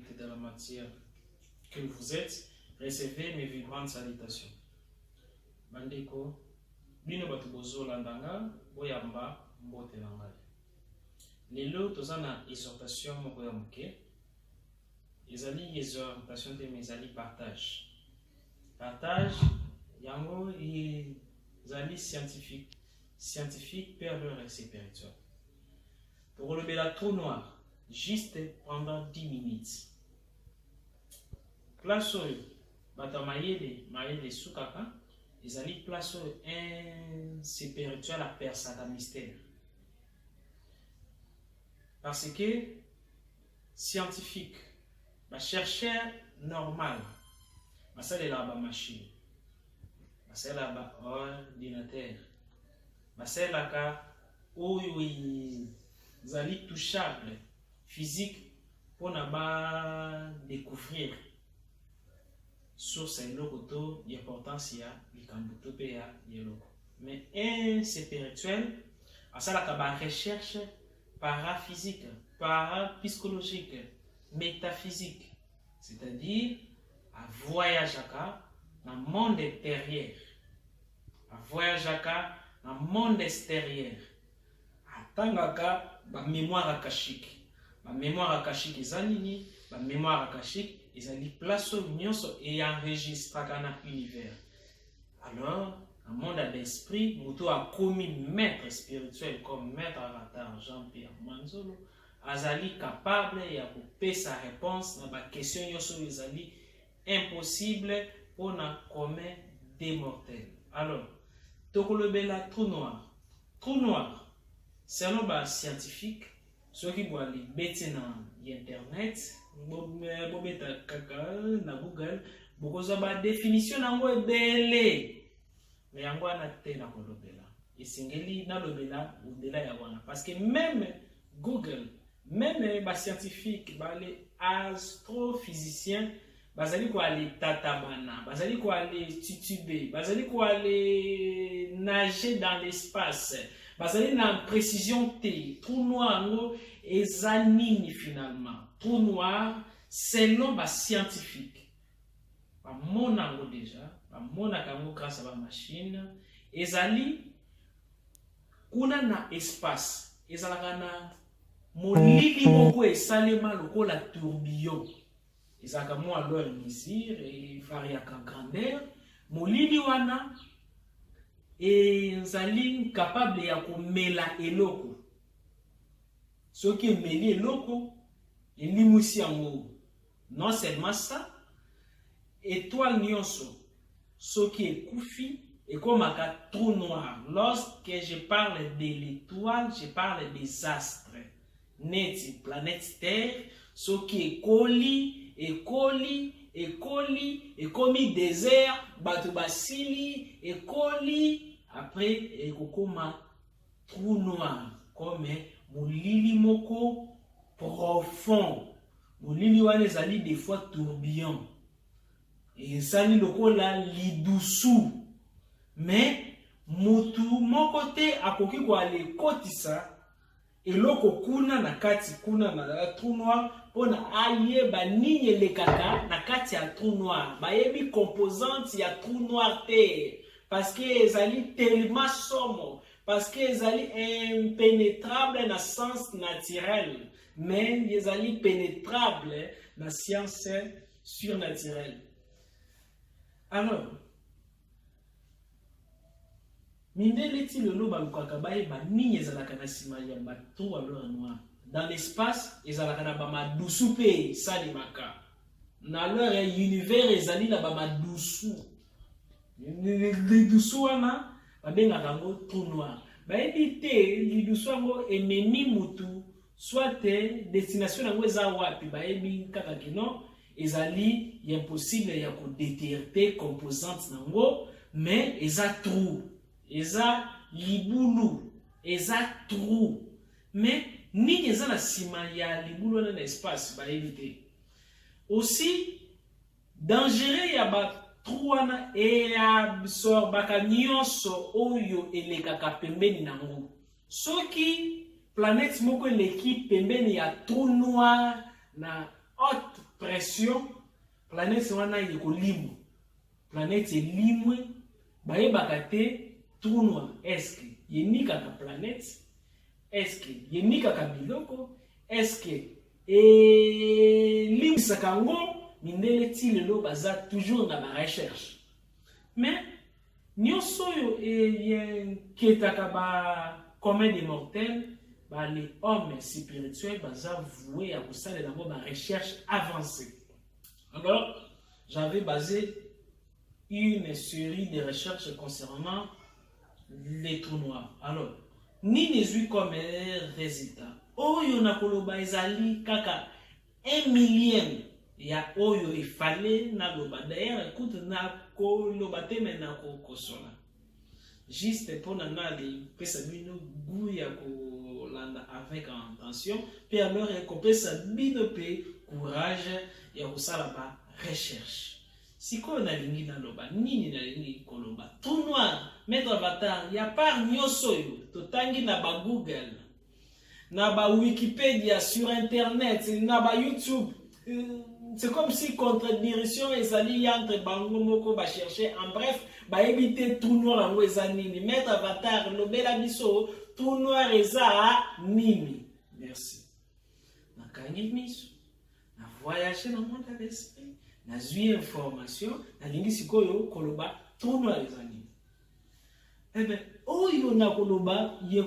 et dans la matière que vous êtes, recevez mes vibrantes salutations. Bandeko, bino bato bozolanda nga boyamba mbote na ngai lelo toza na exhortation moko ya moke ezali exhortation te mais ezali partage partage yango ezali scientifique scientifique père leur spirituel tokolobela trou noir juste pendant 10 minutes place oyo bato ya mayele mayele esukaka ezali place oyo un spirituel apersaka mystère parce que scientifique bachercheur normal basalelaka bamashine basalelaka baordinatere basalelaka oyo ezali touchable physique mpona ba découvrir source ya eloko to importance ya likambo to mpe ya eloko mais un spirituel asalaka ba recherche paraphysique parapsychologique métaphysique C'est-à-dire, a voyageaka na monde intérieur, a voyageaka na monde extérieur, atangaka ba mémoire akashique. Ba mémoire akashique eza nini? Ba mémoire akashique ezali place oyo nyonso eyenregistraka na univers. Alors, na monde ya l'esprit, moto akomi maître spirituel comme maître avatar Jean-Pierre Manzolo, Azali capable ya kopesa reponse na ba question nyoso oyo ezali impossible mpo na commun des mortels. Alors, tokolobela trou noir. Trou noir, selon ba scientifique, soki bwali beti na internet, bobeta kaka na Google, bokozwa ba definition na yango ebele. me yango wana te na kolobela esengeli nalobela odela ya wana parce que meme google meme bascientifique bale astrophysicien bazali koale tatabana bazali koale titube bazali koale nager dans l'espace bazali na précision te trou noir yango eza nini finalement trou noir selon bascientifique ba mona yango deja ba mona kango grâce à ba machine ezali kuna na espace ezalaka na molili moko esalema lokola tourbillon ezalaka mwa loi mesure evariaka grandeur molili wana ezali capable ya komela eloko soki emeli eloko elimwisi yango Non seulement ça, etoile nionso soki ekufi ekomaka trou noir. Lorsque je parle de l'étoile, je parle des astres. Neti planète Terre soki ekoli ekoli ekoli ekomi désert bato basili ekoli après ekokoma trou noir comme molili moko profond molili wana ezali des fois tourbillon ezali lokola lidusu mais motu moko te akoki koale kotisa eloko kuna na kati kuna na trou noir mpona ayeba nini elekaka na kati ya trou noir bayebi composante ya trou noir te Parce que ezali tellement somo, parce que ezali impenetrable na sens naturel, mais ezali penetrable na science surnaturelle. Alors, mindele ti lelo balukaka bayeba nini ezalaka na nsima ya bato ya lora noir dans l'espace ezalaka na bamadusu mpe esalemaka na lore ya univers ezali na bamadusu lidusu wana babengaka yango trou noir bayebi te lidusu yango ememi motu soit destination yango eza wapi bayebi kaka kino ezali ya impossible ya kodeterte composante na yango mais eza trou eza libulu eza trou mais nini eza na nsima ya libulu wana na espace bayebi te aussi Dangereux ya ba trou wana eya absorbaka nyonso oyo elekaka pembeni na yango. Soki planète moko eleki pembeni ya trou noir na haute pression, planète wana ekolimwa. Planète elimwe, bayebaka te trou noir eske enikaka planète Eske yemikaka biloko? Eske elimbisaka yango? Mindele ti lelo baza toujours na ba recherche. Mais nyonso oyo eyenketaka ba commun des mortels ba les hommes spirituels baza voue ya kosalela yango ba recherche avancée. Alors, j'avais basé une serie de recherches concernant les trous noirs. Alors, nini ezwi comme résultat oyo na koloba ezali kaka un millième ya oyo efale naloba dayere kutu nakoloba te me nakokosola juste mpo na nali pesa bino gout ya kolanda avec intention mpe alors ekopesa bino mpe courage ya kosala ba recherche Sikoyo nalingi naloba nini nalingi koloba trou noir maître avatar ya part nyonso oyo totangi na ba google na ba wikipedia sur internet na ba youtube euh, c'est comme si contradiction ezali entre bango moko ba chercher en bref bayebi te trou noir yango eza nini maître avatar lobela biso trou noir eza nini merci nakangi miso Na voyage na monde ya esprit, nazwi information, nalingi sikoyo koloba trou noir eza nini. Eh bien, oyo nakoloba ye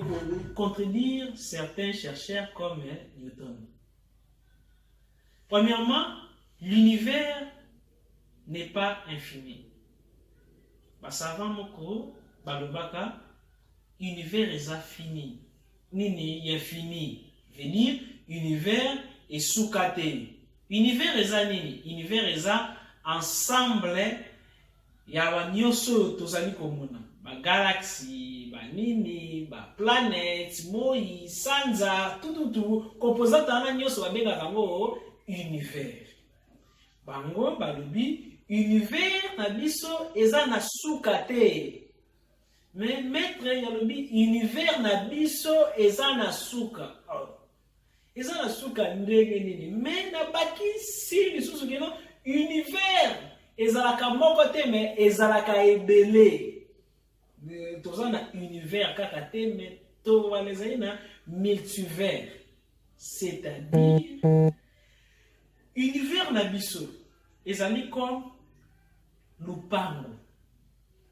contredire certains chercheurs comme Newton. Premièrement, l'univers n'est pas infini. Basava moko balobaka Univers eza fini. Nini ya fini? Veut dire univers esuka te. Univers eza nini? Univers eza ensemble ya ba nyonso oyo tozali komona ba galaxie ba nini ba planète moi sanza tututu composante wana nyonso babengaka yango univers bango balobi univers na biso eza na suka te Mais maître yalobi univers na biso eza na suka. Oh. Eza na suka ndenge nini? Mais na baki si lisusu kino univers ezalaka moko te mais ezalaka ebele. Toza na univers kaka te mais to wana ezali na multivers. C'est-à-dire univers na biso ezali comme lupango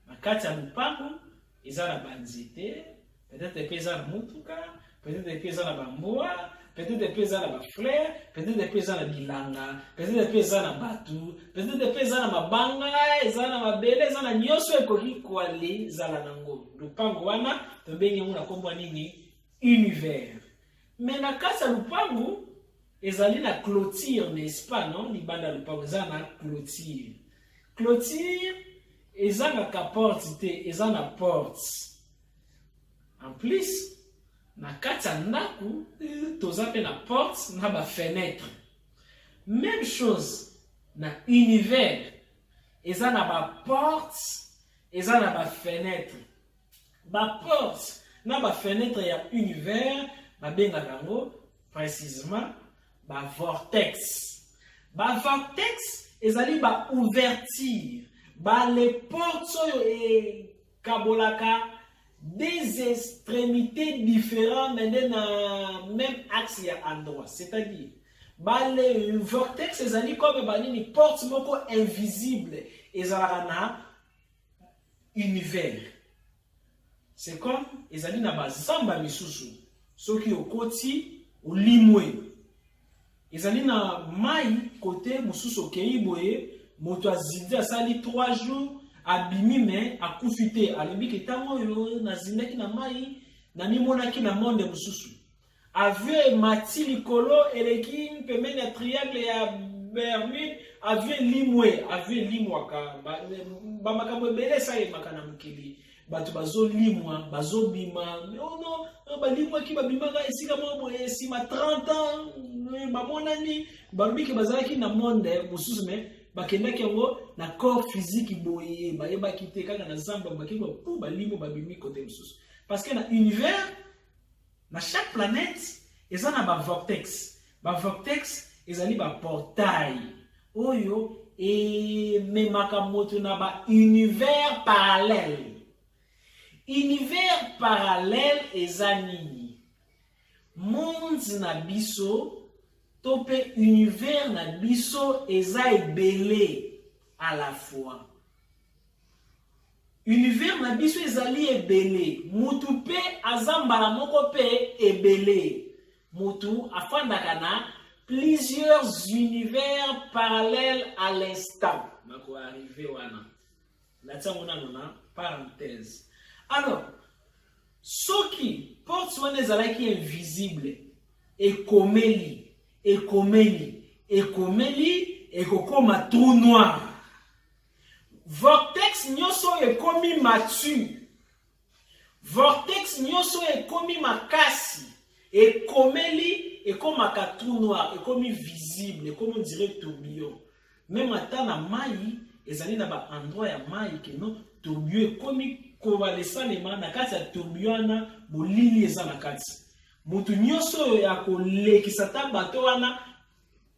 Na kati ya lopango eza na banzete, peut-être mpe eza na motuka, peut-être mpe eza na bambwa, peut-être mpe eza na bafleur, peut-être mpe eza na bilanga, peut-être mpe eza na bato, peut-être mpe eza na mabanga, eza na mabele, eza na nyonso ekoki koale zala nango. Lopango wana tobengi yango na nkombo nini? Univers. Mais na kati ya lopango Ezali na clôture n'est-ce pas non libanda ya lopango eza na clôture. Clôture ezangaka porte te eza na porte. En plus na kati ya ndako euh, toza mpe na porte na ba fenêtre. Même chose na univers eza na ba porte eza na ba fenêtre. ba porte na ba fenetre ya univers babengaka yango précisement ba vortex ba vortex ezali ba ouverture ba le porte oyo ekabolaka des extrémités différentes mais nde na même axe ya endroit c'est-à-dire bale vortex ezali comme banini porte moko invisible ezalaka na univers c'est comme ezali na bazamba misusu soki okoti olimwe ezali na mai kote mosusu okei boye moto azindi asali 3 jours abimi me akufi te alobi ke ntango oyo nazindaki na mai namimonaki na monde mosusu Avion emati likolo eleki pembeni ya triangle ya Bermude, avion elimwe, avion elimwaka, ba makambo ebele esalemaka na mokili. bato bazolimwa bazobima ono oh balimwaki babimaka esika moko boye nsima 30 ans eh, bamonani balobi ke bazalaki na monde eh, mosusu me bakendaki yango na corps physique boye bayebaki te kaka na zamba bakei po balimwe babimi kote mosusu parce que na univers Na chaque planète eza na ba vortex. Ba vortex ezali ba portail oyo ememaka moto na ba univers parallèle. Univers parallèle eza nini? Monde na biso to mpe univers na biso eza ebele à la fois. Univers na biso ezali ebele, mutu mpe aza mbala moko mpe ebele. Mutu afandaka na plusieurs univers parallèles à l'instant. Nako arrive wana. Natia ngo nano na parenthèse. Alors, soki porte wana ezalaki invisible, ekomeli, ekomeli, ekomeli, ekokoma trou noir. Vortex nyoso oyo ekomi matu. Vortex nyoso oyo ekomi makasi. Ekomeli ekomaka trou noir, ekomi visible, ekomi on dirait tourbillon. Meme ata na mai ezali na ba endroit ya mai que non tourbillon ekomi kobala esalema na kati ya tourbillon wana molili eza na kati. Moto nyoso oyo akolekisa ta bato wana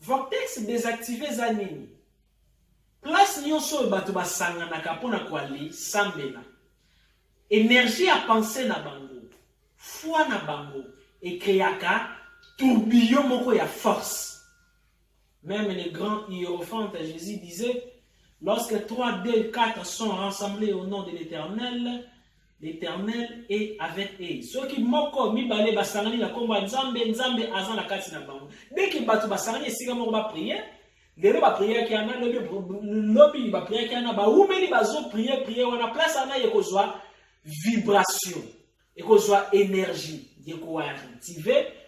Vortex desactive eza nini? Place nyonso oyo bato basanganaka mpo na koale sambela, energie ya pense na bango, foi na bango ekreaka tourbillon moko ya force. Meme le grand hierophante Jesus disait, lorsque 3, 2, 4 sont rassemblés au nom de l'Eternel, L'Eternel est avec eux. Soki moko mibale basangani na kombo ya Nzambe, Nzambe aza na kati na bango. Dès que bato basangani esika moko ba prière, lelo ba prière ki ana lobi lobi ba prière ki ana ba umeli bazo prière prière wana place ana ekozwa vibration, ekozwa énergie, ekozwa active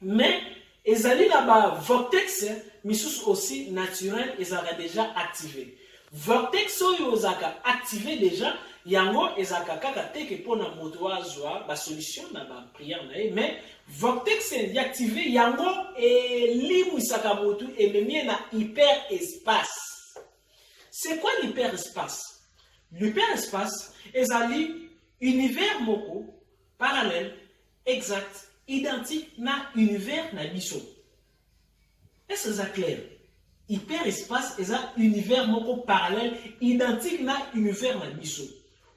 Mais ezali na ba vortex misusu aussi naturel ezalaka deja active. Vortex oyo ezalaka active deja yango ezalaka kaka te ke mpona moto azwa ba solution na ba prière na ye mais vortex active yango elimwisaka motu ememie na hyper espace. C'est quoi l'hyper espace? L'hyper espace ezali univers moko parallèle Exact. Identique na univers na biso. Est-ce que ça clair? Hyperespace eza univers moko parallèle identique na univers na biso.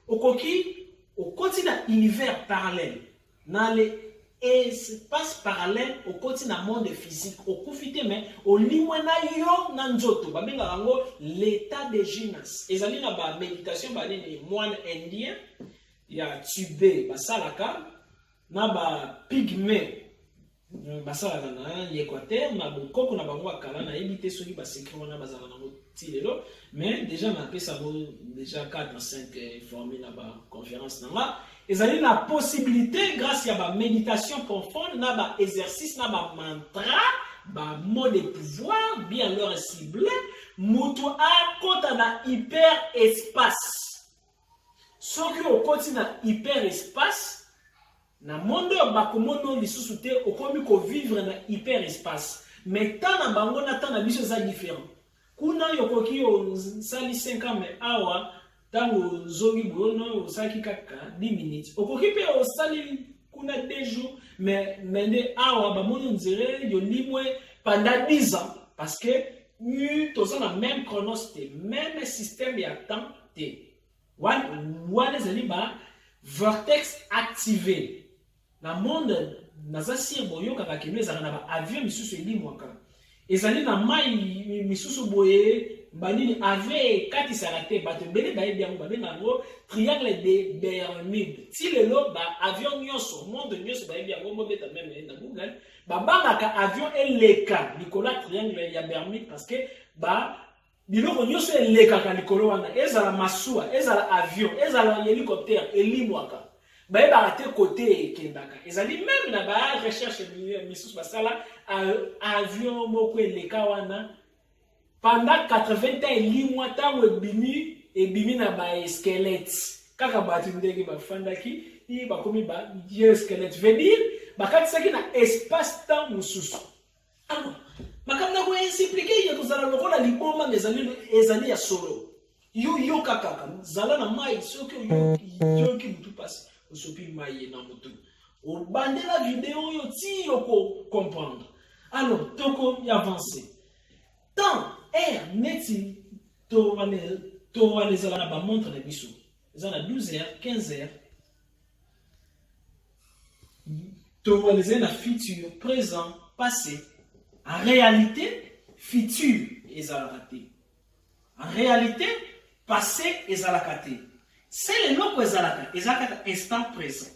Okoki okoti na univers parallèle na le espace parallèle okoti na monde physique okufi te mais olimwe na yo na nzoto babengaka yango l'état de gymnase ezali na baméditation banini moine indien ya tube basalaka na ba pigme hmm, basalaka na l'Equateur na bokoko na bango ya kala nayebi te soki basekre wana bazala nango ti lelo mais déjà napesa yango déjà 4 na 5 eh, formule na baconférence na nga ezali na possibilité grâce ya baméditation profonde na baexercice na bamantra bamo de pouvoir bien leur cible moto akota na hyper espace soki okoti na hyper espace na monde oyo bakomono lisusu te okomi kovivre na hyper espace mais temps na bango na temps na biso eza différent kuna yo okoki osali 5 ans mais awa ntango ozongi boyono osalaki kaka 10 minutes okoki mpe osali kuna 2 jours mais mais nde awa bamoni onzere yolimwe pendant 10 ans parce que toza na même chronos te même système ya temps te wana ezali ba vortex active na monde naza sire boyokaka kino ezalaka na baavion misusu elimwaka ezali na mai misusu boye banini ave ekatisaka te bato ebele bayebi yango babenga yango triangle de bermude ti lelo baavion nyonso monde nyonso bayebi yango mobeta meme na google babangaka avion eleka likolo ya triangle ya bermude parce que ba biloko nyonso elekaka likolo wana ezala masuwa ezala avion ezala helicoptère elimwaka bayebaka te kote ekendaka ezali meme na ba recherche misusu basala avion moko eleka wana pendant 80 ans elimwa ntango ebimi ebimi na ba esquelette kaka bato ndenge bafandaki bakomi ba vieux esquelette veut dire bakatisaki na espace temps mosusu Alors, makambo na koexplike ya kozala lokola liboma mezali ezali ya solo yo yoka kaka zala na mai soki oyoki motu mpasi osopi mai na motu obandela video oyo ti oko comprendre alors toko avance temps air neti towana ezala na bamontre na biso eza na 12 heures 15 heures torealize na futur présent passé en réalité futur ezalaka te en réalité passé ezalaka te sele eloko ezalaka eza kaka instant présent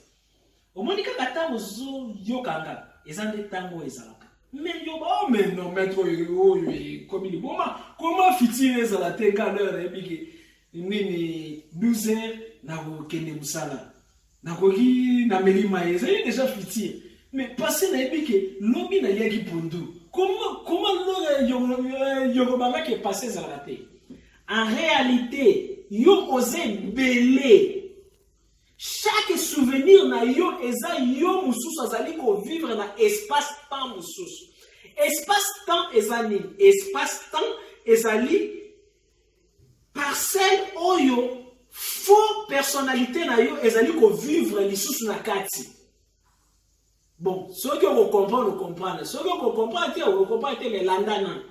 omoni kaka ntango ozoyokanga eza nde ntango oyo ezalaka meyoba oh, o meno maître oyo oyo ekomi liboma koma fitile ezala te kaleur ebiki nini 12 heures nakokende mosala nakoki na meli maye ezali deja futur mais passé nayebi ke lobi naliaki pondu koma koma lola yokobangaki epasse ezalaka te en réalité yo oza ebele chaque souvenir na yo eza yo mosusu azali kovivre na espace temps mosusu espace temps eza nini espace temps ezali parcelle oyo faux personnalité na yo ezali kovivre lisusu na kati bon soki okokomprendre okomprendre soki okokomprendre te okokomprendre te me landa na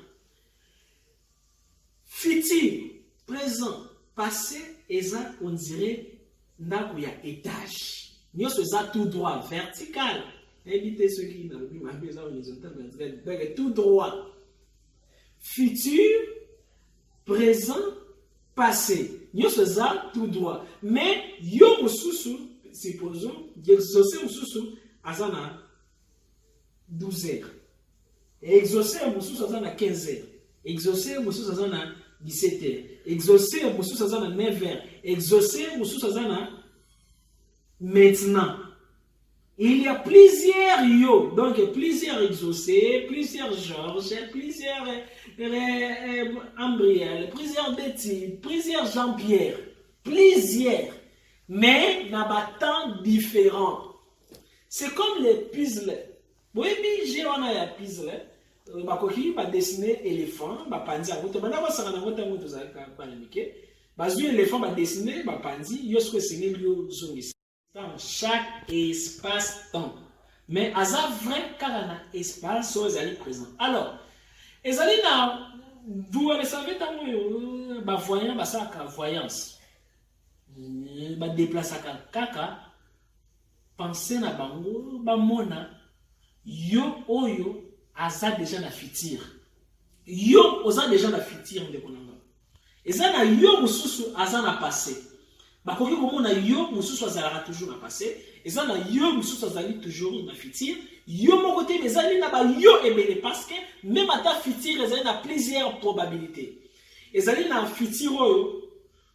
futur présent passé eza on dirait ndako ya etage nyonso eza tout droit vertical nayebi te soki nalobi mabe eza horizontal vertical tout droit futur présent passé nyonso eza tout droit mais yo mosusu supposons exauce mosusu aza na 12 heures exauce mosusu aza na 15 heures exauce mosusu aza na 17 heures exauce mosusu aza na 9 heures exauce mosusu aza na maintenant Il y a plusieurs yo, donc plusieurs exaucés, plusieurs Georges, plusieurs euh, Ambriel, plusieurs Betty, plusieurs Jean-Pierre, plusieurs, mais na ba temps différents. C'est comme les puzzles. Boyebi je wana ya puzzle, bakoki ba dessiner éléphant, ba panzi yango, to banda kosaka na ngota ngo tozalaka bana mike, bazwi éléphant ba dessiner ba panzi, yo soko esengeli yo zongisa. dans chaque espace temps mais aza vrai kaka na espace oyo ezali présent alors ezali na vous le savez ntango oyo euh, bavoyant basalaka voyance euh, badeplasaka kaka pense na bango bamona yo oyo aza deja na futur yo oza deja na futur ndeko na nga eza na yo mosusu aza na passe bakoki komona yo mosusu azalaka toujours na passe eza na yo mosusu azali toujours na futur yo moko te mais ezali na bayo ebele parce que meme ata futur ezali na plusieurs probabilité ezali na futur oyo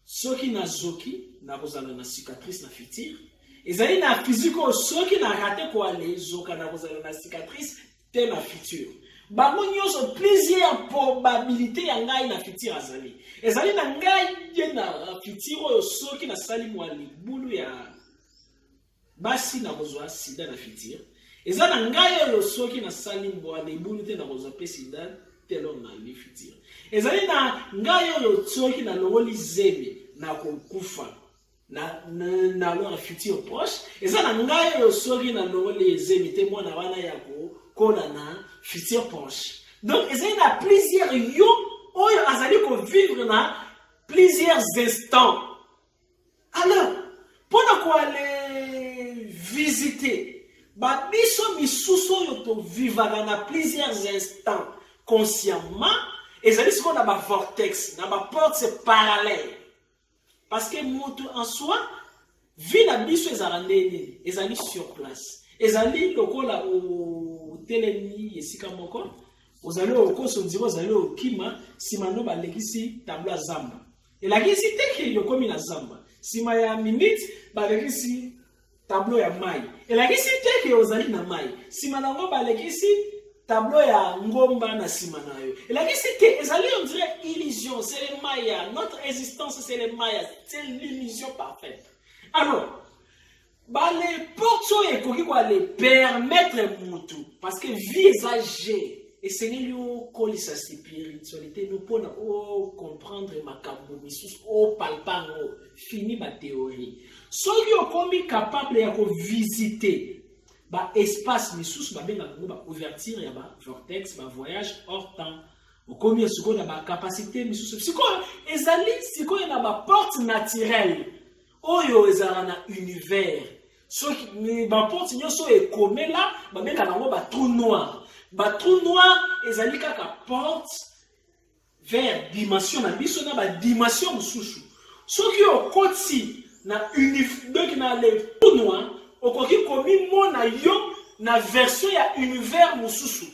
soki nazoki nakozala na cicatrice na futur ezali na physique oyo soki na rate koale zoka nakozala na cicatrice te na futur bango nyonso plusieurs probabilité ya ngai na futur azali ezali na ngai ye na futur oyo soki nasali mwa libulu ya basi nakozwa sida na futur eza na ngai oyo soki nasali mbwa libulu te nakozwa mpe sida telo na li futur ezali na ngai oyo soki nalongoli zemi nakokufa na, na, na leur futur proche eza na ngai oyo soki na longoli ezemi te mwana wana ya kokola na futur proche donc ezali na plusieurs yo oyo azali kovivre na plusieurs instants alors mpo na koale visite babiso misusu oyo tovivaka na plusieurs instants consciemment ezali sikoyo na bavortex na baporte parallèle parce que mutu en soi vie na biso ezala nde nini ezali sur place ezali lokola otelemi esika moko ozali okoso nzira ozali okima nsima no balekisi tablo ya zamba elakisi te ke yokomi na zamba nsima ya minute balekisi tablo ya mai elakisi te ke ozali na mai nsima na yango balekisi tablo ya ngomba na nsima na yo elakisi te ezali on dirait illusion c'est le maya notre existence c'est le maya c'est l'illusion parfaite alors baleporte oyo ekoki koale permettre motu parce que vie eza je esengeli okolisa spiritualité no mpona ocomprendre makambo misusu opalpa yango fini ba theorie soki okomi capable ya ko visiter ba espace misusu babenga bango ba ouverture ya ba vortex ba voyage hors temps okomi sikoyo na ba capacité misusu sikoyo ezali sikoyo na ba porte naturelle oyo ezalaka na univers soki baporte nyonso oyo ekomela babengaka yango batrou noir batrou noir ezali kaka porte vers dimension na biso na ba dimension mosusu soki okoti na donc na le tournoi okoki komimona yo na version ya univers mosusu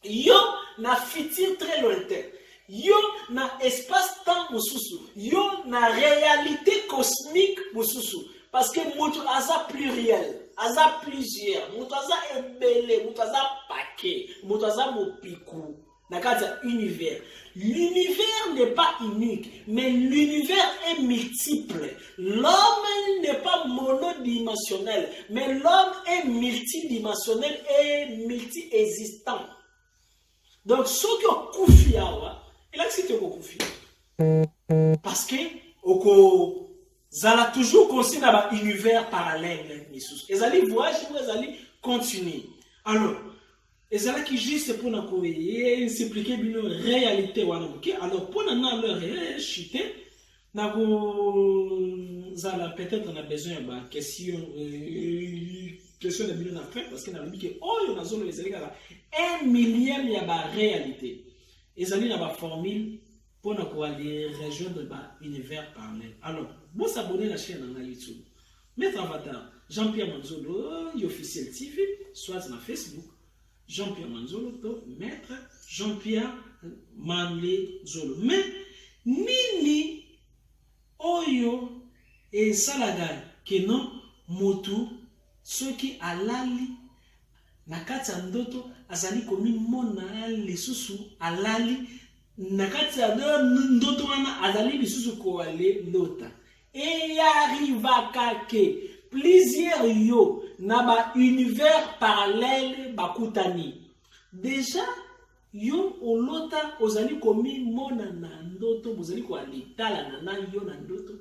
yo na futur très lointain yo na espace temps mosusu yo na réalité cosmique mosusu parce que moto aza pluriel aza plusieurs moto aza ebele moto aza pake moto aza mopiku na kati ya univers l'univers n'est pas unique mais l'univers est multiple l'homme n'est pas monodimensionnel mais l'homme est multidimensionnel et multiexistant donc soki okufi awa elakisi te okokufi parce que okozala toujours consi na baunivers parallèle misusu ezali voyage moko ezali continue alors ezalaki juste pona ko suppliquer bino réalité wana moke alors pona na leur chute na kozala peut-être na besoin ya ba question euh, question na bino na fin parce que nalobi ke oyo nazoloba ezali kaka un millième ya ba réalité ezali na ba formule pona koaller rejoindre ba univers parallèle alors bosabone na chaîne na ngai youtube Maître Avatar, Jean-Pierre Manzolo, Officiel TV, soit na Facebook, Jean-Pierre Manzolo, to Maître Jean-Pierre Manzolo. Mais, nini oyo esalaka ke non motu soki alali na kati ya ndoto azali komimona lisusu alali na kati ya ndoto wana azali lisusu koale lota Eyarivaka ke plusieurs yo na ba univers parallèle bakutani deja yo olota ozali komimona na ndoto bozali koalitalana na yo na ndoto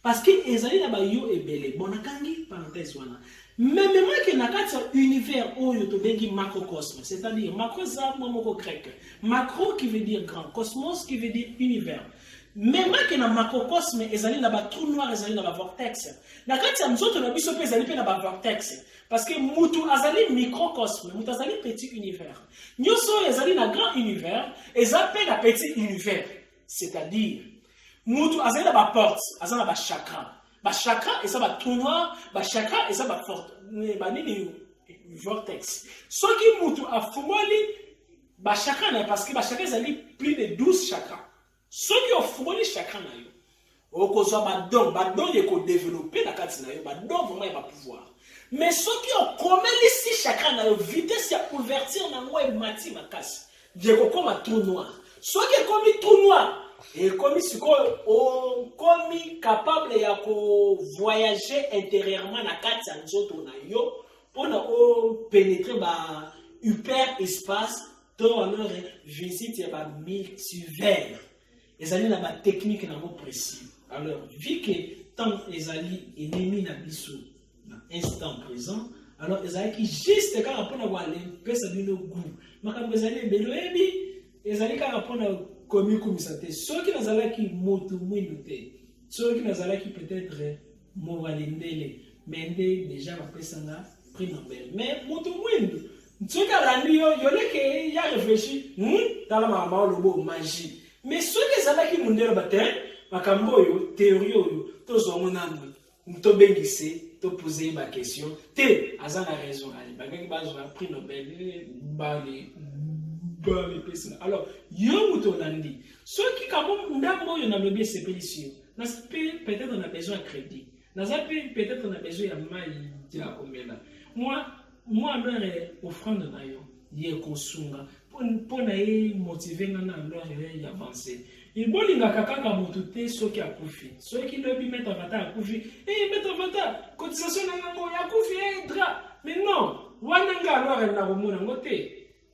parce que ezali na bayo ebele bon nakangi parenthèse wana mememaki na kati ya univers oyo tobengi macrocosme c'est-à-dire macro eza mwa moko grec macro qui veut dire grand cosmos qui veut dire univers memake na macrocosme ezali na batrou noir ezali na bavortex na kati ya nzoto na biso mpe ezali mpe na bavortex parce que mutu azali microcosme mutu azali petit univers nyonso oyo ezali na grand univers eza mpe na petit univers c'est-à-dire mutu azali na baporte aza na bachakra bachakra eza batrou noir bachakra eza banini vortex soki mutu afungoli ba chakra na parce que ba chakra ezali plus de 12 chakra soki ofungoli chakra na yo okozwa ba don ba don ye ko développer na kati na yo ba don vraiment ya ba pouvoir mais soki okomelisi chakra na yo vitesse ya ouverture na yango emati makasi ye kokoma trou noir soki ekomi trou noir ekomi sikoyo okomi capable ya ko voyager intérieurement na kati ya nzoto na yo mpo na openetre ba hyper espace to alors visite ya ba multivers ezali na batechnike nango précis alors vu que temps ezali enemi na biso na instant présent alors ezalaki juste kaka mpo na kopesa bino gout makambo ezali ebele oyebi ezali kaka mpo na komikumisa te soki nazalaki motu mwindu te soki nazalaki peut-être mowalendele me nde deja bapesanga prix nobel me moto mwindu soki alandi yo yoleke ya réfléchi hmm? tala makambo olobo magie me soki ezalaki mondele bate eh, makambo oyo théorie oyo tozwa ngo nanu tobengise topoze ye baquestion te aza na raison alibakaki bazwa prix nobel eh, bale bamipesina alors yo moto olandi soki kabo ndambo oyo nalobi esepelisi yo naza mpe peut-être na besoin ya crédit naza mpe peut-être na besoin ya mai ya komela mwa mwa lore offrande na yo ye kosunga mpo na ye motive nga na lore yo ya avance bolingaka kaka motu te soki akufi soki lobi maître avata akufi e eh, maître avata cotisation na yango akufi e eh, dra mais non wana nga lore nakomona yango te